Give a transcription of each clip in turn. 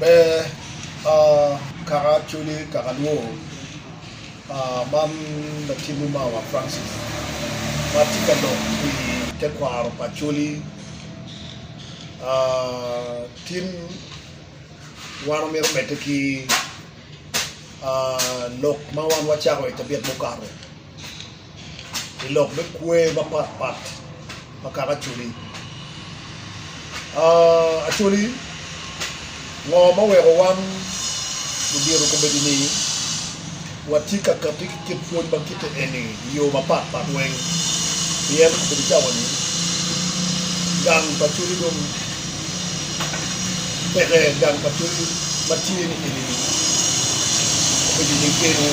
Pe a kaka coli kaka lwor a man latingi mawa Francis ma tye ka lok i tekwaro pa coli a tin wan omito mete ki a lok ma wan wacako i tabiat mukato. i lok me kwer mapat pat ma kaka Acholi. Acholi, ngo ma weko wan ludito komedini watye ka kati ki kit pwony ma kite eni i yo mapat pat weng? Pien komedo cawa-ni, gang pa Acholi dong. peke gang pa Twolo ma tye ni eni dong obedo i nyim gedo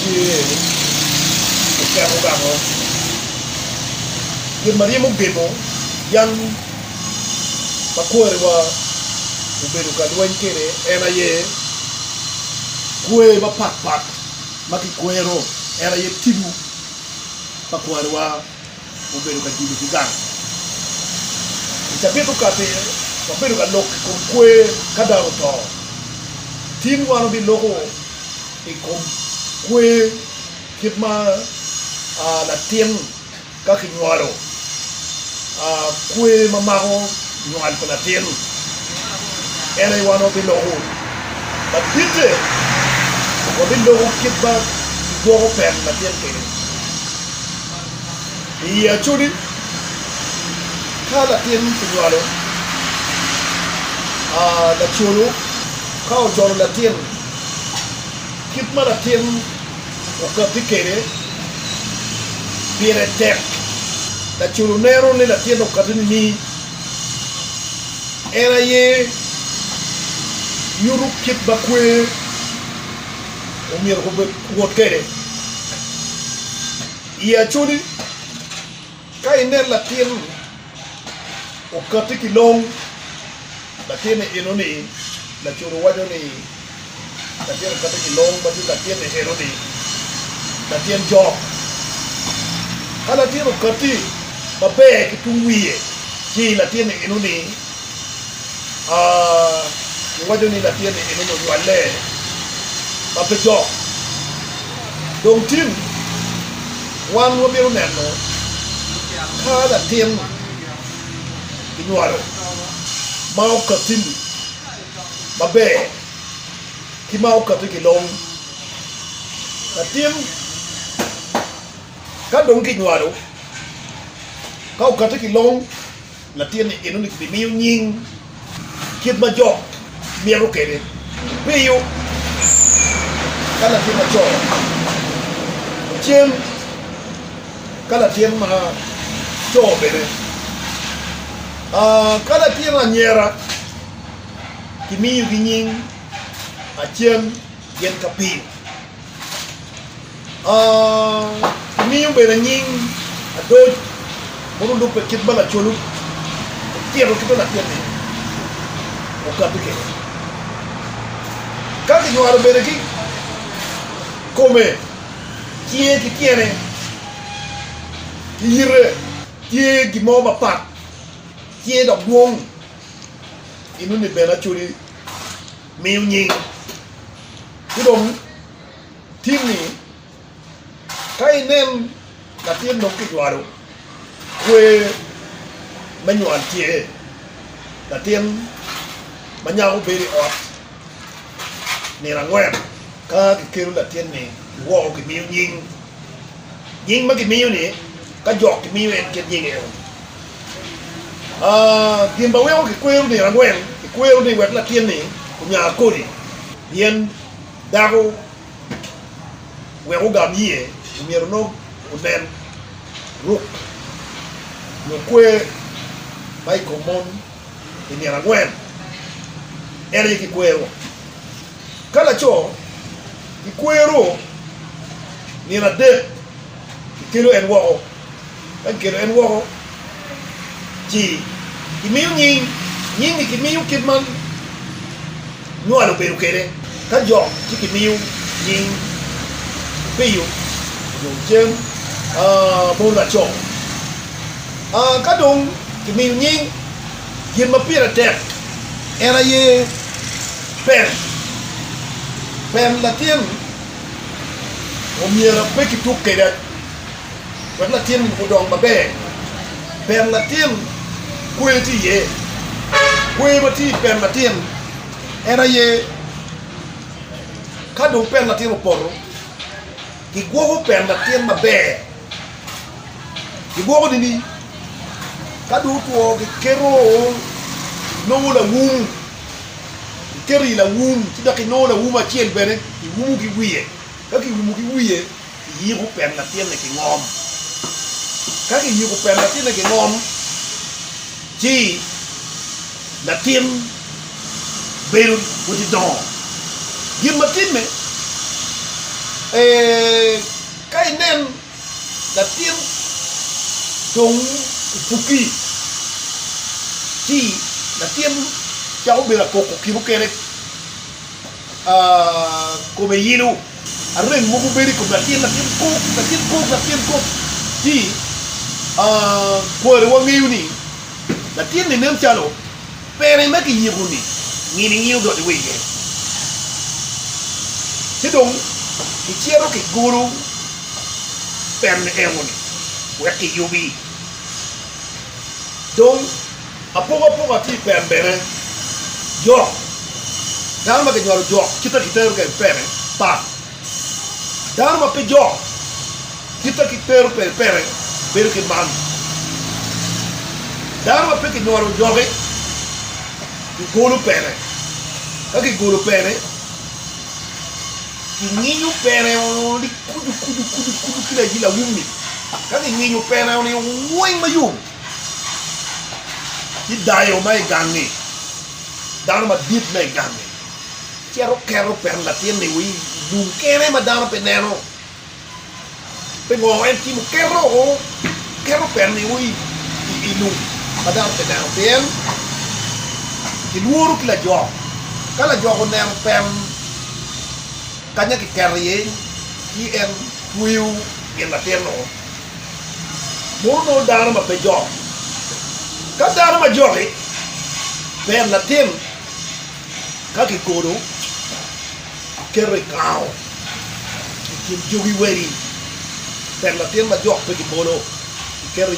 tye eni oketo gamo gin ma ryemo gemo yam ma kwariwa obedo ka lweny kwede en aye kwer mapat pat ma kikwero en aye tibu pa kwariwa obedo ka judo ki gang. I cabit okati, wabedo ka lok i kom kwer ka dano oto. Tin wan wabiloko i kom kwer kit ma latin ka kinywalo, kwer ma mako nywal pa latin en aye wan wabiloko. Laditte, wabiloko kit ma kigwoko pek latin kwede. iyi acodi ka latin kinywalo, lacolo ka ojolo latin, kit ma latin okatti kwede pire tek. Lacolo neno ni latin okatti nining? En aye nyuto kit ma kwer. omyero gubed wot kwede i Acholi. Ka inen latin okatti ki long, latinni enoni, Lacode waco ni latin okatti ki long ma tye latinni enoni, latin jok. Ka latin okatti maber ki tung wiye ci latinni enoni, Iwaco ni latinni enini onywale ma pe dok. Dong tin, wan wabino neno ka latin kinywalo ma okatti-ni maber ki ma okatti ki long. Latin ka dong kinywalo ka okatti ki long, latinni enoni kibimiyo nying kit ma jo mito kwede. Piyo ka latin laco ocen, ka latin laco bene, ka latin anyira kimiyogi nying acen gin ka piyo. Kimiyo bene anying adoc mono lubbe kit ma lacolu otito ki bene latinni okati kede. Ka kinywalo bene ki kome, cinge ki tyene ki yite tye gin mo mapat, tye dok dwong, inoni bene acoli. miyo nying ci dong timmi ka inen latin dong kijwalo kwer me nywal tye latin ma nyako bedo i ot nino angwen ka kikelo latinni kiwoko kimiyo nying. nying ma gimiyo ni ka jok gimiyo en kit nying eno ni. Aa, gin ma weko kikwero nino angwen, kikwero ni wek latin ni onya kodi, pien dako wek ogam iye omyero onong onen ruk nyo kwer ma i kom mon. i nino angwen, en aye kikwero. Ka laco kikwero nino adek, kikelo en woko. Ka kikelo en woko ci kimiyo nying, nying-ngi kimiyo kit man. nywalo bedo kede ka jo ci ki miyo nying opiyo nyo cem mono laco ka dong ki miyo nying gin ma pire tek en aye pem pem latin omyero pe ki tuk kede. wek latin-ni odong maber. Pien latin kwer tye iye. Kwer ma tye i pien latin en aye ka dong pien latin opoto, kigwoko pien latin maber, kigwoko nini? Ka dong otwo kiketo nongo lawum, kiketo i lawum ci dok inongo lawum acel bene iwumo ki wiye. Ka kiumo ki wiye, kiyiko pen latinne ki ngom. Ka kiyiko pen latinne ki ngom, ci latin bedo woti dongo. Gin ma timme, ee, ka inen latin dong opuki, ci latin cako bedo akoko ki mukene. kome yilo, arem mogo bedo i kom latin latin kok latin kok latin kok ci kwari wangeyo ni latin-ni nen calo peri me kiyiko ni nginingi odonyo wa iye ci dong kicito kigolo peri-ni engo-ni wek kiyubi dong Apokapoka tye i pem bene. Jok, dano ma kinywalo jok kite ki tero kede pene pat. Dano ma pe jok kite ki tero kede pene bedo ki man. Dano ma pe kinywalo joki kigolo pene, ka kigolo pene kinyinyo pene ni kucu kucu kucu kucu ki layi lawum-mi, ka kinyinyo pene-ni weng mayom. ki dayo ma i gangi, dano madit ma i gangi cito keto pet latinni i lum kene ma dano pe neno. Pingo? En timo keto petni i lum ma dano pe neno pien kilworo ki lajok. Ka lajok oneno pet kanya kiketo iye ci en tweyo gin latinnu. Mono nongo dano ma pe jok? Ka dano ma jok-ki, ber latim ka kikodo keto i kango i kin jogi wegi. Ber latin ma jok pe kibolo kiketo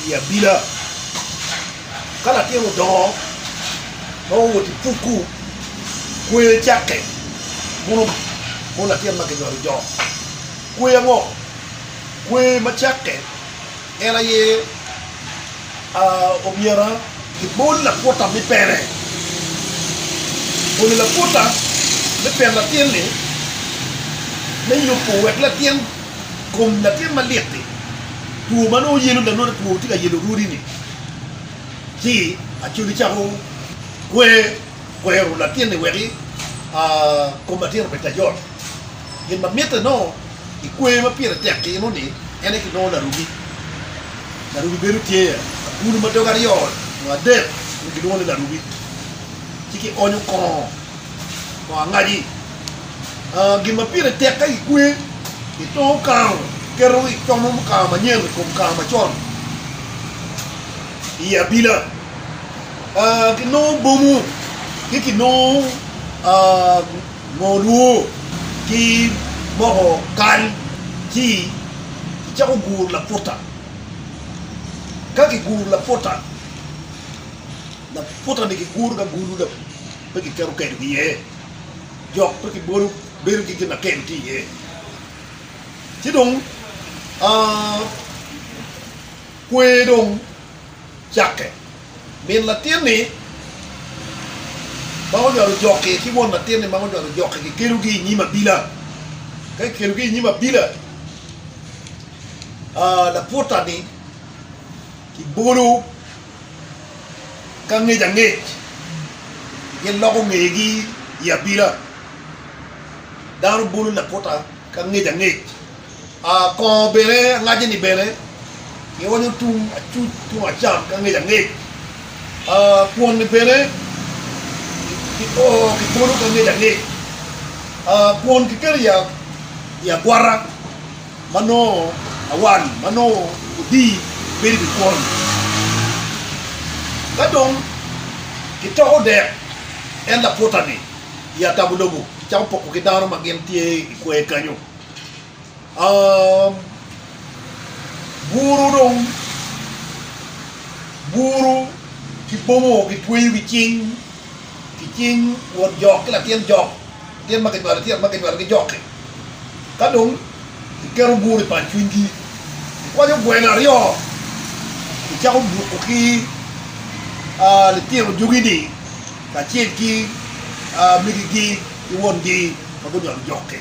i abila. Ka latin odongo ma owot i pukku, kwer cakke, mono latin ma kinywalo jok. Kwer ango? Kwer ma cakke en aye omyero ibol lakuta me pene. Bolo lakuta me peno latin-ni me yubo wek latin kom latin malit-ti, two ma nongo yelo lanongo two ma tye ka yelo rwodi-ni ci acwali cako kwero latin-ni wek kom latin obed ka jot. Gin ma mitte nongo i kwer ma pire tek timo-ni en aye kilwongo larugi. Larugi bedo tye agulu ma doge aryo nyo adek dong kilwongo ni larugi, ci kionyo kongo kongo angaji. Gin ma pire tek ka kikwer, kitongo kango, kiketo kicomo kango manyen i kom kango macon i abila, kinongo bomo ki kinongo. Ngo nwo ki moko kal ci kicako guru laputa. Ka kiguru laputa, laputa ni kiguru ki agulu dok pe kiketo keno ki iye, jok pe kibolo bedo ki gin ma keno tye iye. Ci dong kwer dong cakke. Min latinni ma onywalo jokke ki won latinni ma onywalo jokke kikelogi i nyim abila. Ka kikelogi i nyim abila, laputa-ni kibolo ki angec angec, giloko ngegi i abila. Dano bolo laputa ki angec angec. Kongo bene angaje ni bene kionyo tung acuc tung acam ki angec angec. Kwon ni bene kibolo ki angec angec. Kwon kiketo i agwata ma nongo awal ma nongo odii bedo i wi kwon. Ka dong kitoko dek en laputa ni i atabo lobo kicako poko ki dano ma gin tye i kwer kenyo. buru dong buru ki bwomo gitweyo ki cing ki cing won jok ki latin jok latin ma kinywalo tyen ma kinywalo ki jok-ki ka dong iketo buru i pat cwinygi ikwanyo gweno aryo icako buto ki litino jogi-ni kacel ki megi-gi ki wongi ma gunywalo jok-ki.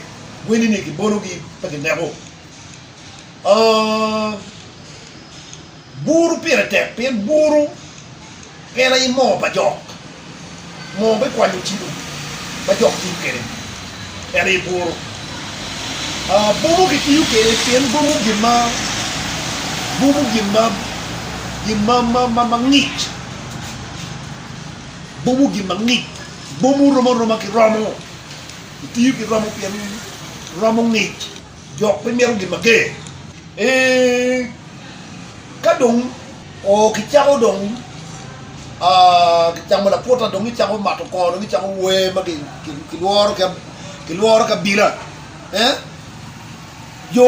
Weni ni gibologi pe gineko. Buru pire tek pien buru en aye moo pa jok. Moo me kwanyo cibo ma jok tiyo kwede en aye buru. Buru kitiyo kwede pien buru gin ma buru gin ma gin ma ma ngic. Buru gin ma ngic. Buru romo aroma ki romo. Itiyo ki romo pien romo ngic dok pe mito gin mager. Ee, ka dong kicako dong kicamo laputa dong icako mato kor dong icako wer ma kilworo ki abila. Ee, jo.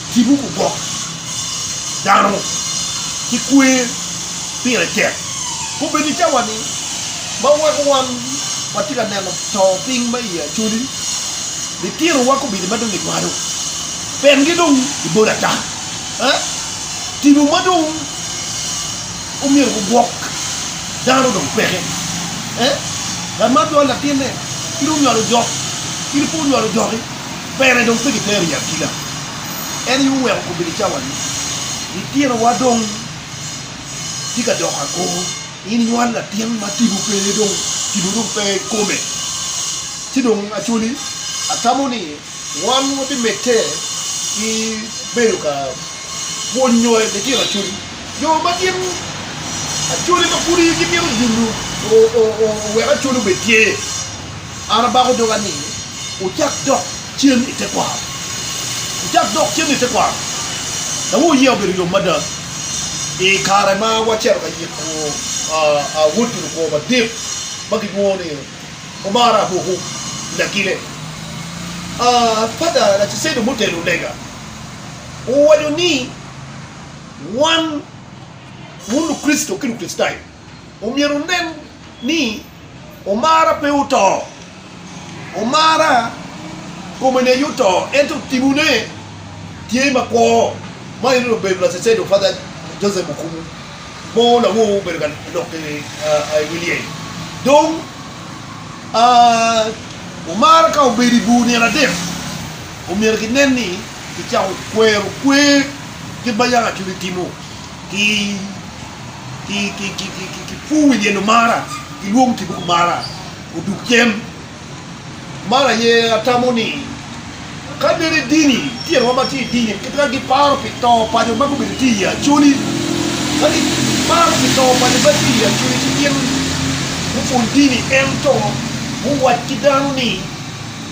Cibuku gwok dano ki kwer pire tek. Kobedi i cawa-ni ma weko wan watye ka neno to piny ma iye acoli, litinowa kobedi ma dong gidwado, pengi dong i bot ata. Eh? Tipo ma dong omyero gugwok dano dong peke. Eh? Ngat ma onywalo latinne, in onywalo jok, in pe onywalo joki. Bene dong pe gitero i akina, en aye oweko obedo cawa-ni. Litinowa dong tye ka doko agor, in inywalo latin ma tipo pe dong, tipo dong pe i kome. Ci dong actually atamo ni wan wabimedde ki bedo ka pwonyo litino actually, jo ma gin actually ma pud gimito nyo owek actually obed tye. An abako doga ni, Wucak dok cen i tekwaro! Wucak dok cen i tekwaro! Dawoyo oye obedo yom mada i kare ma wacito ka yiko wod ki lukwo madit ma gilwongo ni Omara Abuku i Lakile. Pata Lacesedo mutelo lega owaco ni, Wan, wun Lukricito ki Lukricitayo, omyero wunen ni, Omara pe oto. Omara kome neye oto ento timone tye makwo ma en onongo obedo Lacedo Father Joseph Okumu mo lawo obedo ka lok ki i wi lyel dong Omara ka obedo i bur nino adek omyero ki nen ni ki cako kwero kwer kit ma Yangacudi timo ki ki pur i dye lum mara ki lwongo kibuku mara odug cen mara aye atamo ni ka bed i dini tyen wa matye i dini ki twero gi paro pi to pa jo ma gubedo tye i acholi ka gi paro pi to pa jo matye i acholi ci gin gu pwony dini ento gu wac ki dano ni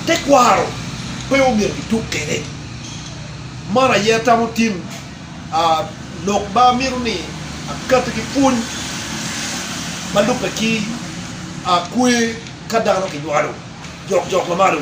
tekwaro pe omyero ki tuk kwede mara aye atamo tim Lok ma amito ni akati ki pwony ma lubbe ki kwe ka dano kinywalo jokjok ma malo.